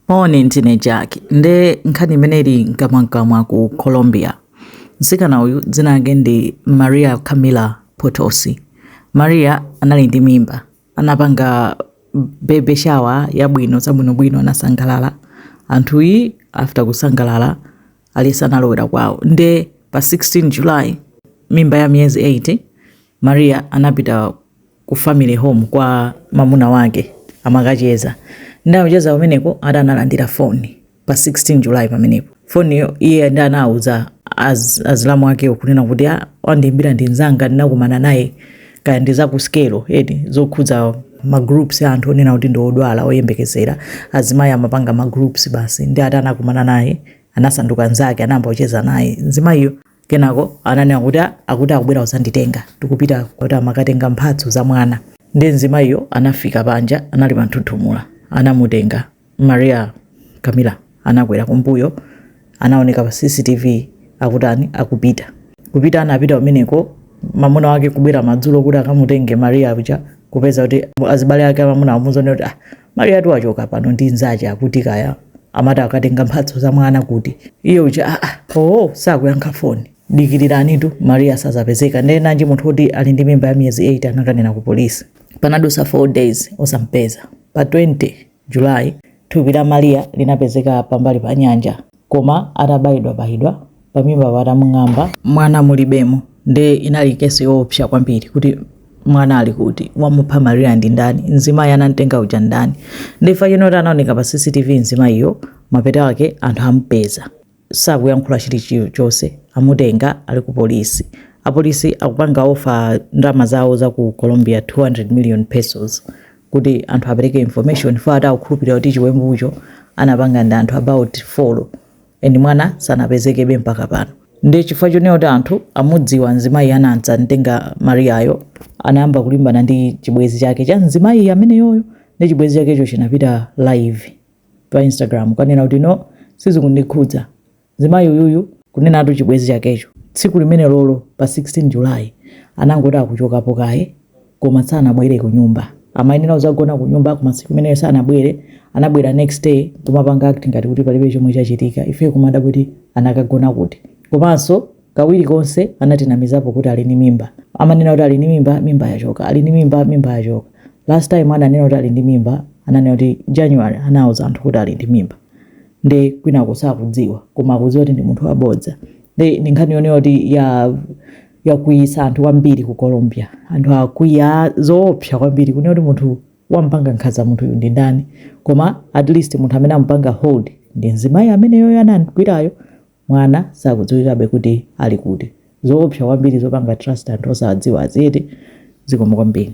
Moni ndine Jack nde nkhani imene ili nkamwankamwa ku Colombia. Mtsikana uyu dzina lake ndi Maria Camila Potosi. Maria anali ndi mimba, anapanga baby shower yabwino zabwinobwino, anasangalala anthuyi. After kusangalala aliyese analowera kwawo, nde pa 16 July mimba ya miyezi 8 Maria anapita ku family home kwa mamuna wake amakacheza nde akucheza kumeneko ati analandira foni pa 16 July pamenepo foniyo iye nde anawuza az, azilamu akewo kunena kuti "Ah, wandiimbira ndi nzanga ndinakumana naye kaya ndi zakusikelo eti zokhudza magroups a anthu onena kuti ndi odwala oyembekezera azimayi amapanga magroups basi nde ati anakumana naye anasanduka nzake anayamba kucheza naye mzimayiyo Kenako ananena kuti akuti akubwera kudzanditenga tikupita kuti amakatenga mphatso za mwana. Ndiye mzimayiyo anafika panja, anali panthunthumula, anamutenga Maria Camila anakwera kumbuyo, anaoneka pa CCTV akutani akupita kupita, anapita kumeneko mamuna wake kubwera madzulo kuti akamutenge Maria uja kupeza kuti azibale ake amamuna amuuza zonena kuti ah, Mariatu wachoka pano ndi nzache akuti kaya amati akatenga mphatso za mwana kuti iye uja aa ah, ah, oo oh, sakuyankha foni dikiriranitu Maria sazapezeka ndiye nanji munthu woti ali ndi mimba ya miyezi 8 anakanena ku polisi panadusa 4 days osampeza pa 20 July thupi la Maria linapezeka pambali pa nyanja koma atabayidwabayidwa pamimbapo atamung'amba mwana mulibemo nde inali case yoopsa kwambiri kuti mwana ali kuti wamupha Maria ndi ndani mzimayi anamtenga uja ndani nde chifukwa chonena kuti anaoneka pa CCTV mzimayiyo mapeto ake anthu amupeza sakuyankhula chilichonse amutenga ali ku polisi apolisi akupanga ofa ndalama zawo za ku Colombia 200 million pesos kuti anthu apereke information chifukwa ati akukhulupirira kuti chiwembucho anapanga ndi anthu about 4 and mwana sanapezekebe mpaka pano nde chifukwa chonena kuti anthu amudziwa mzimayi anadzamtenga Mariayo anayamba kulimbana ndi chibwezi chake cha mzimayi ameneyoyo nde chibwezi chakecho chinapita live pa instagram kukanena kuti no sizikundikhudza Mzimayi uyuyu, kunenatu chibwezi chakecho, tsiku limenelolo pa 16 July anangoti akuchokapo kaye koma sanabwere kunyumba. Amayenera kuzagona kunyumba koma tsiku limenelo sanabwere, anabwera next day nkumapanga act ngati kuti palibe chomwe chachitika ifeyo kumadabwa kuti anakagona kuti. Komanso kawiri konse anatinamizapo kuti ali ndi mimba. Amanena kuti ali ndi mimba, mimba yachoka, ali ndi mimba, mimba yachoka. Last time ananena kuti ali ndi mimba, ananena kuti January anauza anthu kuti ali ndi mimba. nde kwinako sakudziwa koma akudziwa kuti ndi munthu wabodza nde ndi nkhani yonena kuti ya yakwiyisa anthu kwambiri ku colombia anthu akwiya zoopsa kwambiri kunena kuti munthu wampanga nkhanza munthuyu ndi ndani koma at least munthu amene amupanga hold ndi mzimayi ameneyoyo anamgwirayo mwana sakudziwikabe kuti ali kuti zoopsa kwambiri zopanga trust anthu osawadziwa aziyete zikomo kwambiri